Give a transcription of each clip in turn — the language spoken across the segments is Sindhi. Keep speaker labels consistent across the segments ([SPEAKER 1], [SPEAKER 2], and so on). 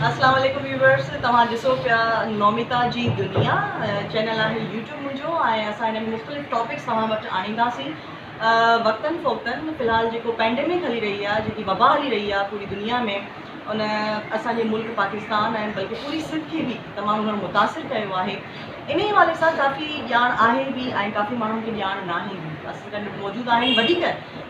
[SPEAKER 1] اسلام عليڪم ويورس توهان ڏسو پيا نوميتا جي دنيا چينل آهي يوٽيوب منهنجو ۽ اسان هن ۾ مختلف ٽاپڪس توهان وٽ آڻينداسين وقتن فوقتن في الحال جيڪو پينڊيمڪ هلي رهي آهي جيڪي وبا هلي رهي آهي پوري دنيا ۾ ان اسانجي ملڪ پاڪستان ۽ بلڪه پوري سنڌ کي به تمام گهڻو متاثر ڪيو آهي انهي حوالي سان ڪافي ڄاڻ آهي به ۽ ڪافي ماڻهن کي ڄاڻ ناهي به گڏ موجود آهن وڌيڪ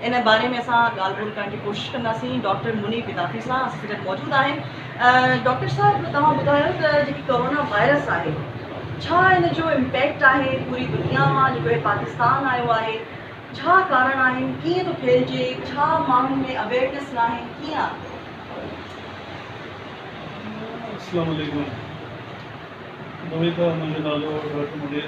[SPEAKER 1] ان باري ۾ اسان ڳالهه ٻولهه ڪرڻ جي ڪوشش ڪنداسين ڊاڪٽر منير بدعتي سان اسان سان گڏ موجود آهن ڊاڪٽر صاحب توهان ٻڌايو ته جيڪي ڪورونا وائرس آهي ڇا ان جو امپيڪٽ آهي پوري دنيا مان جيڪو هي پاڪستان آيو آهي ڇا ڪارڻ آهن ڪيئن ٿو ڦهلجي ڇا ماڻهن ۾ اويئرنيس ناهي ڪيئن السلام عليڪم اميد آهي منهنجو
[SPEAKER 2] نالو ڊاڪٽر منير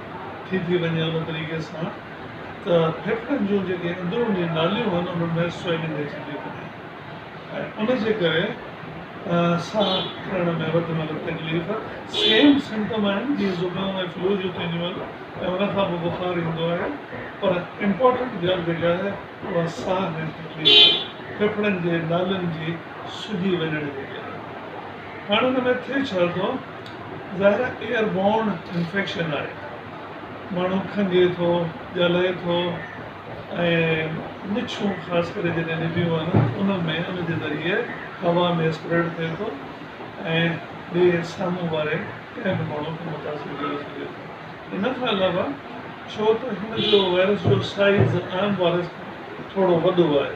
[SPEAKER 2] ٿي ٿي وڃي ان طريقي سان ته ڦيڦڙن جون جيڪي اندروني ناليون آهن انهن ۾ سويلنگ اچي ٿي وڃي ۽ ان جي ڪري ساهه کڻڻ ۾ وڌ ۾ وڌ تڪليف سيم سمٽم آهن جيئن زڪام ۽ فلو جون ٿينديون آهن ۽ ان کان پوء بخار ايندو آهي پر امپورٽنٽ ڳالهه جيڪا آهي اها ساهه جي تڪليف ڦيڦڙن جي نالين جي سجي وڃڻ جي ڪري هاڻ ان ۾ ٿئي ڇا ٿو زهره ايئر بورن انفيڪشن آهي، ماڻهو کنگهي ٿو، ڳالهائي ٿو ۽ مڇون خاص ڪري جڏهن نڀيون آهن ان ۾ ان جي ذريعي هوا ۾ اسپريڊ ٿئي ٿو ۽ ٻئي سامهون واري ڪنهن به ماڻهو کي متاثر ڪري سگهي ٿو ان کان علاوه ڇو ته هن جو وائرس جو سائيز عام وائرس کان ٿورو وڏو آهي.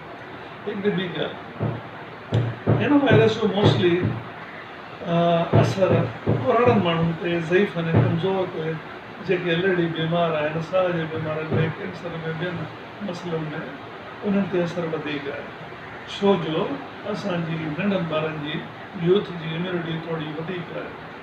[SPEAKER 2] هڪ ٻي ڳالهه هن وائرس جو موسلي اثر ڪوراڙن ماڻهن تي ضعيف ۽ ڪمزور تي جيڪي الريڊي بيمار آهن ساهه جي بيمارين ۾ ڪينسر ۾ ٻين مسئلن ۾ انهن تي اثر وڌيڪ آهي ڇو جو اسان جي ننڍن ٻارن جي يوٿ جي اميونٽي ٿوري وڌيڪ آهي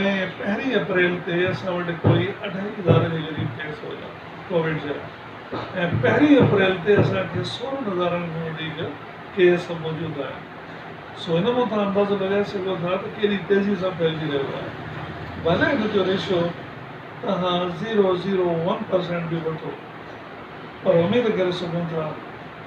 [SPEAKER 2] ۽ پهرين اپريل تي اسان وٽ ڪوئي اڍائي هزار هجري ڪيس هيا ڪووڊ جا ۽ پهرين اپريل تي اسان کي سورهن هزارن کان وڌيڪ ڪيس موجود آهن سو ان مان توهان اندازو لڳائي سگهو ٿا ته ڪيڏي تيزي سان ڦهلجي رهيو آهي ڀلي ان جو ريشو توهان زيرو زيرو ون پرسينٽ به وٺو پر اميد ڪري سگهون ٿا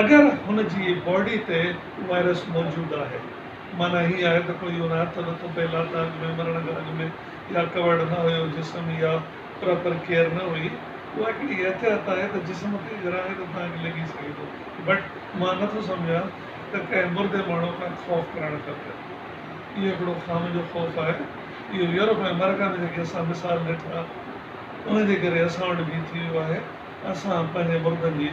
[SPEAKER 2] اگر هن جي باڊي تي وائرس موجود آهي. معنيٰ هي آهي ته ڪو اهو نه هٿ لٿو پئي لاتا اڳ ۾ مرڻ کان اڳ ۾ يا ڪورڊ نه هيو جسم يا پراپر ڪيئر نه هئي. اها هڪڙي احتياط آهي ته جسم کي اگر آهي ته توهان کي لڳي سگهي ٿو بٽ مان نه ٿو سمجهان ته ڪنهن مردي ماڻهو کان خوف ڪرڻ کپي. اهو هڪڙو خامه جو خوف آهي. اهو يورپ ۽ آمريڪا ۾ جيڪي اسان مثال ڏٺا انهن جي ڪري اسان وٽ به ٿي ويو آهي. اسان پنهنجي مردن جي